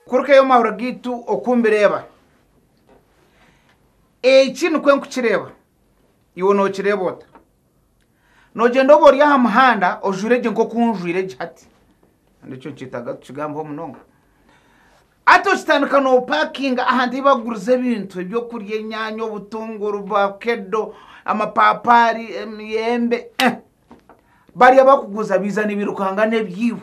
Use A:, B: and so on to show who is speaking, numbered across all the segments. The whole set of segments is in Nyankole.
A: kurukayo omu mahoro gaitu okumbireeba eki nikwe nkukireeba iwe nookireeba ota noogyenda oba ori aha muhanda ojwire gye nk'oku njwire gye hati kandi ekyo nikyetaaga tukigambeho munonga Hati okitandika noopakinga ahantu ei bakuguriza ebintu, ebyokurya, enyaanya, obutunguru, vakedo, amapaapaari, emiyembe, eh, bari abakuguza biija nibirukanga n'ebyaibo.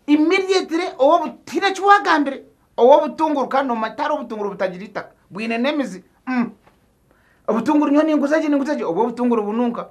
A: Immediately ow'obu tihaine eki waagambire, ow'obutunguru kandi noomanya tihariho obutunguru butagira eitaka, bwine n'emizi, mm, obutunguru nyowe ninguza gye ninguza gye, obwo obutunguru bununka.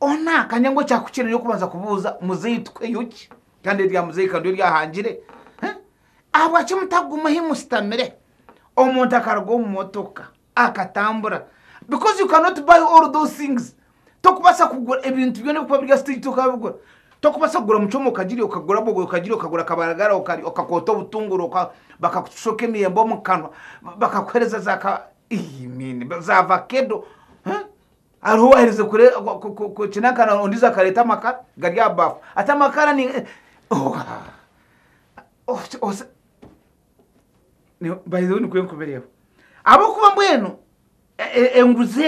A: Ona akanya ngu ekyakukira niyo kubanza kubuuza muzeeyi tukweyo ki kandi erya muzeeyi kandi ori ahangire eh? ahabwaki mutaguma ahi mushitamire omuntu akaruga omu motoka akatambura because you cannot buy all those things tokubaasa kugura ebintu byona ebikuba biri aha stage tokabigura tokubaasa kugura mucoma okagirya okagura bogoya okagirya okagura akabaragara okarya okakoota obutunguru bakakushoka emiyembe omu kanwa bakakuhereza za ka ii mean za vakedo eh? Hariho owaaherize kukinakana ondiijo akareeta amakara gari aha baafu ati, Amakara ni by the way nikwo ndikubireeba ahabw'okuba mbwenu enguzi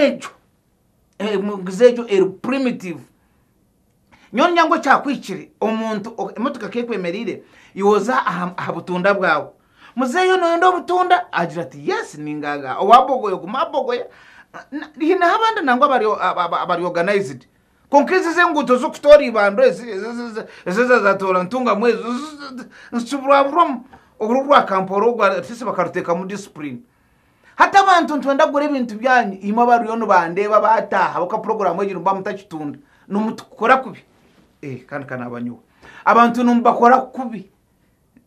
A: egyo eri primitive. Nyowe ndya ngu ekyakuhikire omuntu emotoka ku ekwemereire yooza aha butunda bwawe. Muzeeyi oyo nooyenda obutunda? Agira ati, Yes, ningaaga. Owa bogoya oguma abogoya. Hineho abandi nangwa abari organized. Kwonka ezi ez'enguuto z'okutoora eibandwa ezi, ezi za zaatoora ntungamu ezo, nzikiburwaburwamu. Oru orwa Kampora orwo abateesi bakaruteekamu discipline. Hati abantu nitwenda kugura ebintu byanyu imwe abariyo nibandeeba bataaha ahabw'okuba puroguraamu egi nimuba mutakitunda nimutukora kubi eh, kandi kanaaba nyowe abantu nimubakora kubi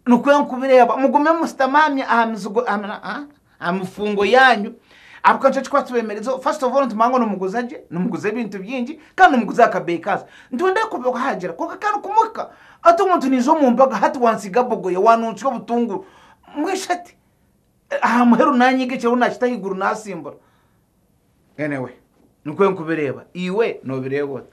A: nikwo enkubireeba mugume musitamaamye aha mizigo aha mifungo yaanyu ahabw'okuba nikyo kikuba kibeemereizeho first of all nitumanya ngu nimuguza gye nimuguza ebintu bingi kandi nimuguza aha kabeeyi kaansi nitwenda kubahagira kwonka kandi kumwe kuhika hati omuntu naija omu mbaga hati wantsiga bogoya waanuntsya obutunguru mbwenu shi hati Aha muheru naanyiga ekiriho naakita ahaiguru naasimbura. Anyway, nikwo nkubireeba. Iwe noobireeba ota?